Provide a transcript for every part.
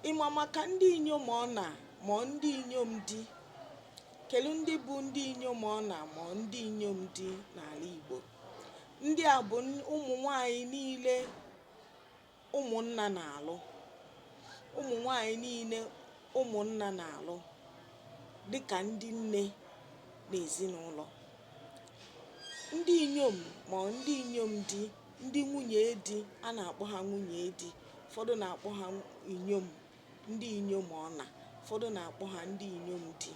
ịma maka ndị inyom ọna ma ndị inyom di kedu ndị bụ ndị inyom ọna ma ndị inyom di n'ala Igbo ndị a bụ ụmụ nwanyị niile ụmụnna na-alụ ụmụ nwanyị niile ụmụnna na-alụ dịka ndị nne n'ezinụlọ ndị inyom ma ndị inyom di ndị nwunye di a na-akpọ ha nwunye di ụfọdụ na-akpọ ha inyom ndị inyom ọna ụfọdụ na-akpọ ha ndị inyom di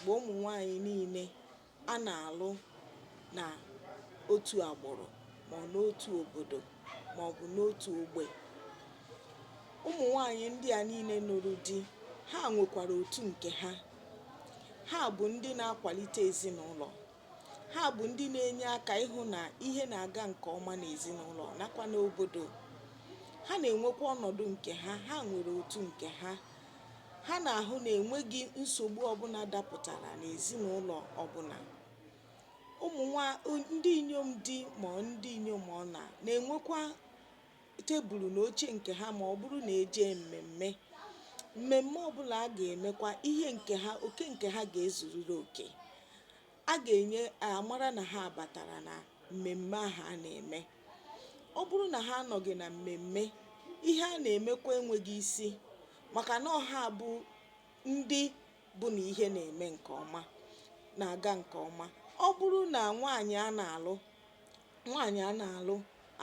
bụ ụmụ nwaanyị niile a na-alụ na otu agbụrụ ma ọ n'otu obodo ma ọ bụ n'otu ogbe ụmụ nwaanyị ndị a niile nụrụ di ha nwekwara otu nke ha ha bụ ndị na-akwalite ezinụlọ Ha bụ ndị na-enye aka ịhụ na ihe na-aga nke ọma n'ezinụlọ nakwa n'obodo. Ha na-enwekwa ọnọdụ nke ha, ha nwere otu nke ha. Ha na-ahụ na enweghị nsogbu ọbụla dapụtara n'ezinụlọ ọbụla. Ụmụ nwa ndị inyom di ma ndị inyom ọna na-enwekwa tebụlụ na oche nke ha ma ọ bụrụ na e jee mmemme. Mmemme ọbụla a ga-emekwa, ihe nke ha, oke nke ha ga-ezuriri oke. A ga-enye a mara na ha batara na mmemme ahụ a na-eme. Ọ bụrụ na ha anọghị na mmemme, ihe a na-emekwa enweghị isi maka na ọ ha bụ ndị bụ na ihe na-eme nke ọma, na-aga nke ọma. Ọ bụrụ na nwaanyị a na-alụ nwaanyị a na-alụ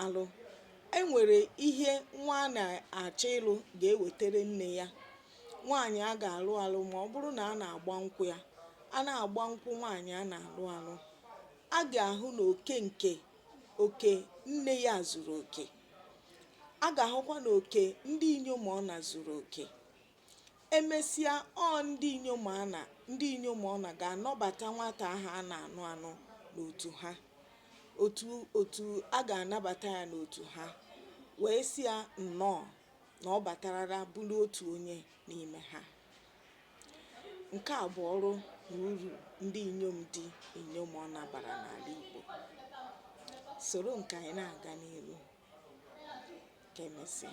alụ e nwere ihe nwa a na-achọ ịlụ ga-ewetara nne ya nwaanyị a ga-alụ alụ ma ọ bụrụ na a na-agba nkwụ ya a na-agba nkwụ nwaanyị a na-alụ alụ a ga-ahụ na oke nke oke nne ya zuru oke a ga-ahụkwa na oke ndị inyom ọna zuru oke E mesịa, ọ ndị inyom Ọna ndị inyom Ọna ga-anabata nwata ahụ a na-anụ anụ n'otu ha, otu a ga-anabata ya n'otu ha, wee sị ya nnọọ na ọ batarala bụrụ otu onye n'ime ha. Nke a bụ ọrụ na uru ndị inyom di inyom Ọna bara n'ala Igbo. Soro m ka anyị na-aga n'ihu. Ka e mesịa.